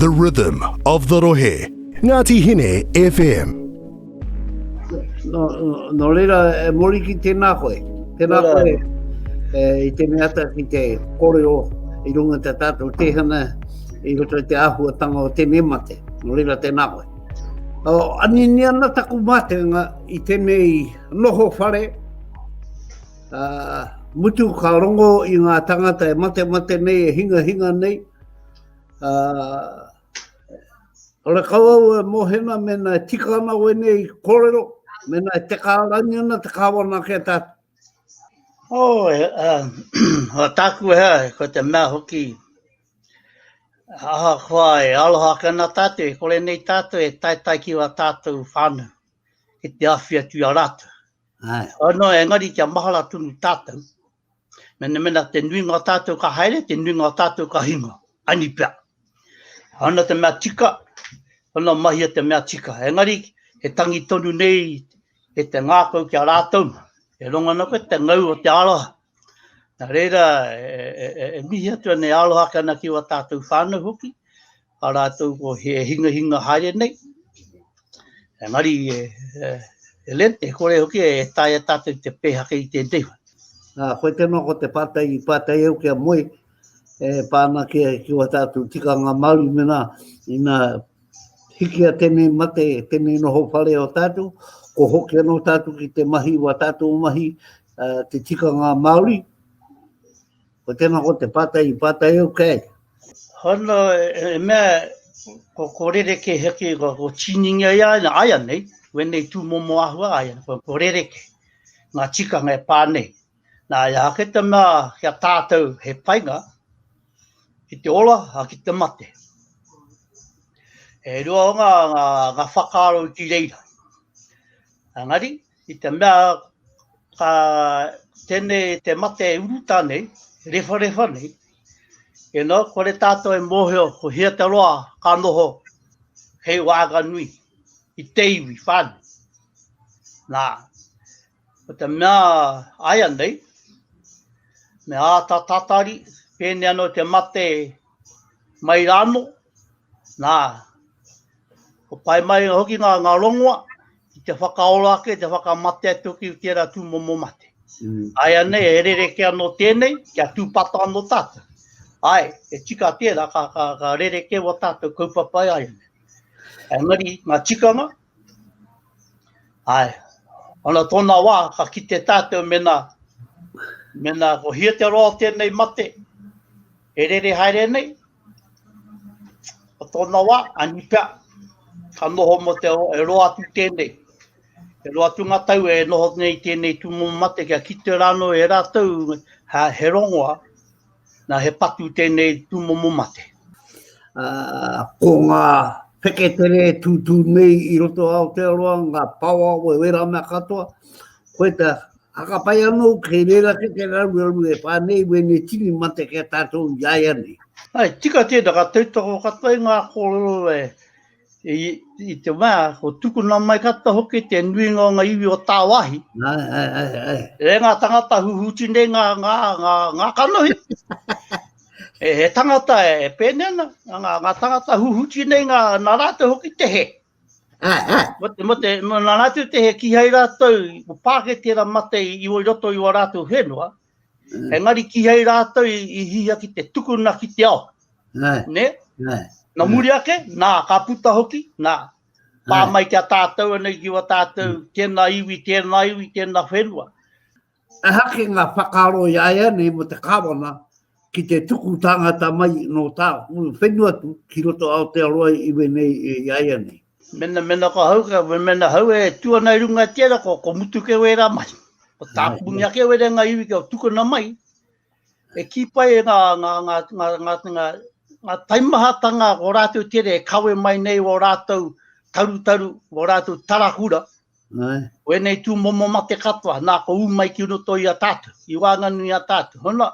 The rhythm of the rohe, Ngati Hine FM. No, no reira, e mori ki tēnā koe. Tēnā koe, e, i te mea ata ki te koreo i runga te tātou tēhana i roto i te āhuatanga o tēnei mate. No reira, tēnā koe. O, anini ana taku mātenga i tēnei noho whare, Uh, mutu ka rongo i ngā tangata e mate mate nei, e hinga hinga nei. Uh, Ora kau au e mohena mena e tika ana wene i korero, mena e te kārangi ana te kāwana ke tā. O, oh, e, uh, o tāku e hea, ko te mea hoki, aha kua e aloha ka na tātou, e kore nei tātou e taitai ki wa tātou whānu, ki te awhi atu a rātou. Anō, engari kia mahara tonu tātou, mena, mena te nuinga o tātou ka haere, te nuinga o tātou ka hinga, ani pea. Ana te mea tika, ana mahia te mea tika. Engari, he tangi tonu nei e te ngākau kia rātou, e rongana koe te ngau o te aroha. Nā reira, e, e, e, e mihi atu ana e aroha ki ana ki o tātou whānau hoki, a rātou ko he hingahinga haere nei. Engari, e, e, e len, e kore hoki e taia tātou te pēhake i tēnei whai. Nā, koe tēnā ko te pātai, pātai au kia moe, e pāna ki, ki wa tātou tika ngā Māori mena, ina hiki a tēnei mate, tēnei noho whare o tātou, ko hoki anō tātou ki te mahi wa tātou mahi, uh, te tika ngā Māori, Ko tēnā ko te pātai i pātai au kei. Hono, e, e mea, ko, ko rereke heke, ko, ko tīningia i aina, aia nei, wenei tū momo ahua aia, ko, ko rereke, ngā tikanga e pā nei. Nā, ia ake te mea kia tātou he painga ki te ola a ki te mate. E rua o ngā, ngā, ngā whakaaro ki reira. Angari, I te mea a tenei te mate e uruta nei, e rewharewha nei, e no, kore tātou e mōhio ko hea te roa ka noho hei wāga nui i te iwi whānui. Nā, ko te mea aia nei, me āta tatari, pēne anō te mate mai rāno, nā, Kua pai mai hoki ngā, ngā rongoa ki te whakaora ake, te whakamate atu ki tērā tūmomo mate. Mm. Ai anei, e rereke anō tēnei, kia tūpata anō tātou. Ai, e tika tērā, ka, ka, ka rereke wa tātou kaupapai ai anei. Engari, ngā tikanga, ai, ana tōna wā, ka kite tātou mena, mena ko hia te roa o tēnei mate, e rere haere nei, Ko tōna wā, ani pea, ka noho mō te e roa atu tēnei. E roa atu ngā tau e noho nei tēnei tūmomo mate kia kite rānō e rātou ha, he rongoa, na, he patu tēnei tūmomo mate. Uh, ko ngā wheketere tūtū nei i roto Aotearoa, ngā pawa o e wera mea katoa, koe te A ka pai anō kei reira ke te raruraru e wha nei wēnei tini mate ki a tātou i a ia nei. Hai tika tēnā ka tautoko katoa i ngā kōrero e i te mea, ko tukuna mai katoa hoki te nuinga o ngā iwi o tāwahi. Ai, ai, ai, ai. E ngā tangata huhuti nei ngā, ngā, ngā, ngā kanohi. e, he tangata e pēne ana, ngā, ngā tangata huhuti nei ngā, nā rātou hoki te he. Mate, mate, nā rātou te he kihai rātou, ko pāke tērā mate i, i oi roto i wā rātou whenua, mm. he ngari kihai rātou i, i hia ki te tukuna ki te ao. Nē, nē. nē. Nā muri ake, nā, ka puta hoki, nā, pā mai ki a tātou anei ki wā tātou, mm. tēnā iwi, tēnā iwi, tēnā whenua. Ehake ngā whakaaro iāianei mō te Kāwana ki te tuku tāngata mai nō tāku whenua atu ki roto Aotearoa iwi nei iāianei. Mena, mena ka hau, mena hau e tū ana i runga i tērā, ko, ko mutu keu ērā mahi. Ko tāku mea keu ērā ngā iwi kia tukuna mai, E kī pai e ngā, ngā, ngā, ngā, ngā, ngā, ngā taimahatanga o rātou tere e kawe mai nei o rātou tarutaru, o rātou tarahura, Ai. o enei tū momo mate katoa, nā ko ū mai ki roto i a tātou, i wānganui a tātou. Hona,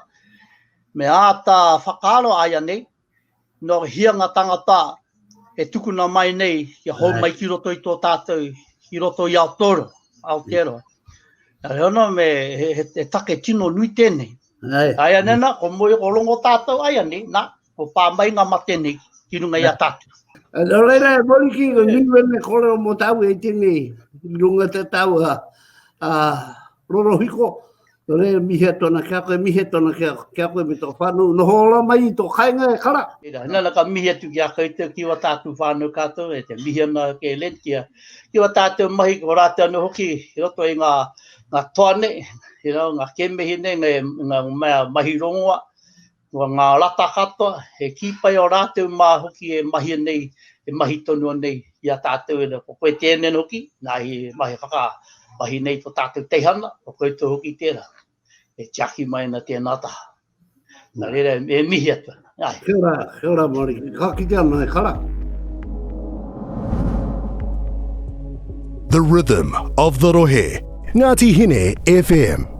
me āta whakaaro ai anei, Nō hia ngā tāngata e tukuna mai nei kia hou mai ki roto i tō tātou, ki roto i Aotoro, Aotearoa. Nā reo nō me he, he, he take tino nui tēnei. Ai. Ai anei nā, ko moe o rongo tātou ai anei, nā, ko pā mai ngā mate nei ki runga i a tātou. Nō reira e mori ki ko nui wene kore o mō tāu e tēnei runga te tāua a rorohiko. Nō reira, mihi atu ana ki a koe, mihi atu ana ki a, ki a koe me tō whānau, noho ora mai i tō kainga e kara. Tērā, nana ka mihi atu ki a koutou, ki wā tātou whānau kātou, e te mihi ana ke Len, ki a, ki wā tātou mahi, ko rātou anō hoki, i roto i ngā, ngā toa nei, you know, ngā kēmehi nei, ngā, ngā mea mahi rongoa, Ko ngā rata katoa, he kī pai ō rātou mā hoki e mahia nei, e mahi tonua nei i a tātou ēnei. Ko koe tēnei hoki, nā i mahi whakamahi nei tō tātou teihana, ko koutou hoki tērā, e tiaki mai ana tēnā taha. Nā reira, e mihi atu ana. Kia ora, kia ora Māori, ka kite ana e kara. The Rhythm of the Rohe. Ngāti Hine FM.